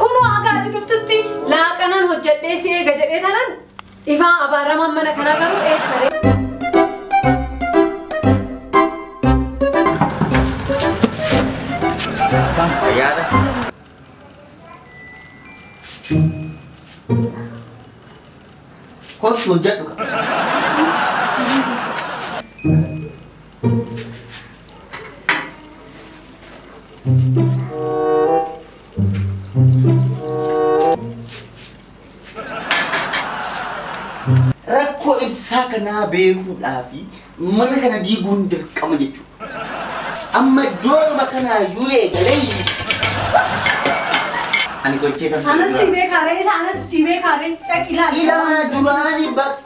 Kunoo hagaa ati dhuftutti laaqanaan hojjedhee si eega jedhee tanan ifaa abaaramaan mana kanaa garuu eessa ree? Ayyaana. Kottu hojjedhu qaba. Rakkoo ibsaa kanaa beekuudhaa fi mana kana diiguun dirqama jechuudha. Amma iddoodhuma kanaa yoo eegalee ani tolchee kan Anas si beekaaree, isa anatu si beekaaree, dhaqi ilaali. Ilaa duraanii bakka.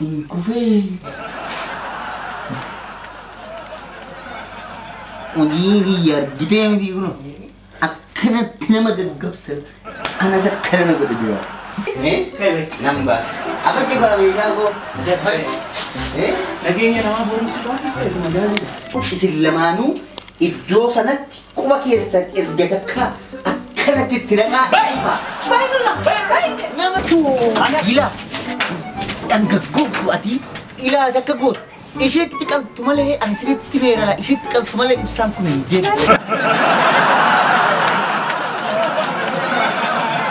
Hin kufee. Hojii kiyya argitee miti kun akkanatti nama gaggabsa kanas akka nama godhe jira. Nan ba'a. Abaddi koo abeekaa koo. Nageenya namaa boruuf isin lamaanuu iddoo sanatti Quba keessan erga takka akkanatti itti naqaa. Nama gila dhangaggooftu ati ilaa takka gootu. Isheetti qaltu malee ani sirriitti meerala isheetti qaltu malee ibsaan kun hin deemu.